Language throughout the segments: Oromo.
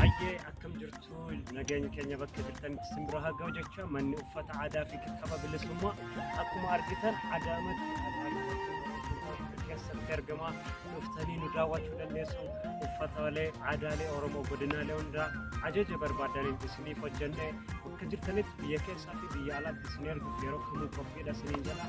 Hayyee akkam jirtu nageenya keenya bakka jirtanitti isin bira haa ga'u jecha manni uffata aadaa fi kitaaba bilisummaa akkuma argitan adaamatti keessatti argama dhuftanii nu daawwachuu dandeessu uffataalee aadaalee oromoo godinaalee hundaa ajaja barbaadaniin isiniif hojjennee bakka jirtanitti biyya keessaa fi biyya alaatti isin erguuf yeroo kamuu qophiidha isiniin jedha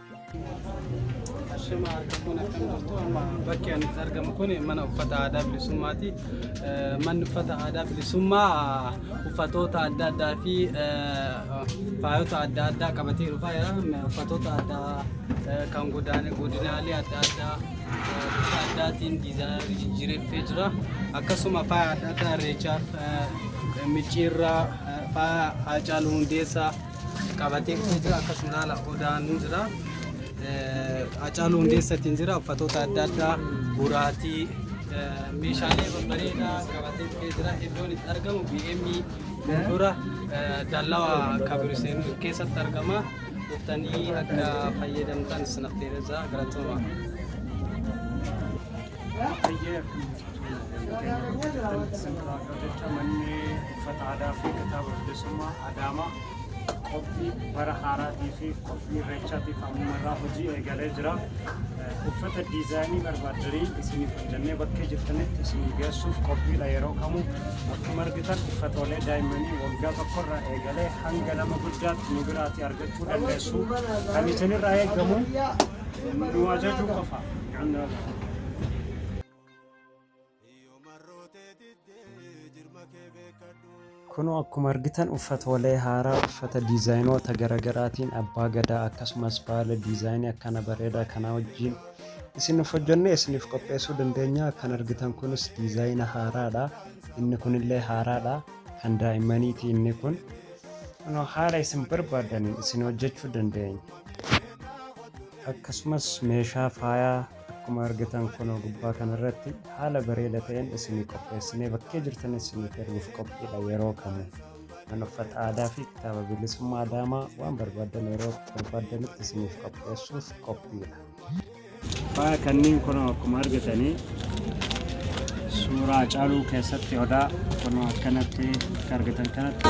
Shema argamuun akkam jirtu amma bakki ani itti argamu kun mana uffata aadaa bilisummaati. Eh, Manni uffata aadaa bilisummaa eh, uffatoota adda addaa fi eh, faayota adda addaa qabatee dhufaa jira. Me- Uffatoota addaa eh, kan godaane- godinaalee adda addaa eh, bifa addaatiin diizaayinii jijjiireffee jira. Akkasuma faaya adda addaa irreechaaf eh, micciirraa eh, faaya haacaaluu hundeessaa qabatee dhufee jira akkasuma laala odaan jira acaaluu hundeessatiin jira uffatoota adda addaa buraatii meeshaalee babbareedaa qabatee dhufee jira iddoon itti argamu BM dura dallawa kabiruseen keessatti argama dhuftanii akka fayyadamtan isin affeerra jira galatoomaa. Hayyee akkuma jecha manni uffata aadaa fi kitaaba bilisummaa Adaamaa qophii bara haaraatii fi qophii irreechaatiif ammuma irraa hojii eegalee jira. Uffata diizaayinii barbaadanii isiniif hojjannee bakkee jirtanitti isin geessuuf qophiidha yeroo kamuu akkuma argitan uffatoolee daa'immanii waggaa tokko irraa eegalee hanga nama guddaatti nu biraatti argachuu dandeessu. Kan isinirraa eegamu Nu ajajuu qofa. Kunoo akkuma argitan uffatoolee haaraa uffata diizaayinoota garagaraatiin abbaa gadaa akkasumas baala diizaayinii akkana bareedaa kanaa wajjin isiniif hojjennee isiniif qopheessuu dandeenya. Kan argitan kunis diizaayina haaraadha. Inni kunillee haaraadha. Kan daa'immaniiti inni kun. Kunoo haala isin barbaadaniin isin hojjechuu dandeenya. akkasumas meeshaa faayaa akkuma argitan kunoo gubbaa kanarratti haala bareeda ta'een isinii qopheessinee bakkee jirtan isinii erguuf qophiidha yeroo kamu kan uffata aadaa fi kitaaba bilisummaa adaamaa waan barbaadan yeroo barbaadanitti isiniif qopheessuuf qophiidha. Faaya kanneen kun akkuma argitanii suuraa caaluu keessatti odaa kun akkanatti akka argitan kanatti.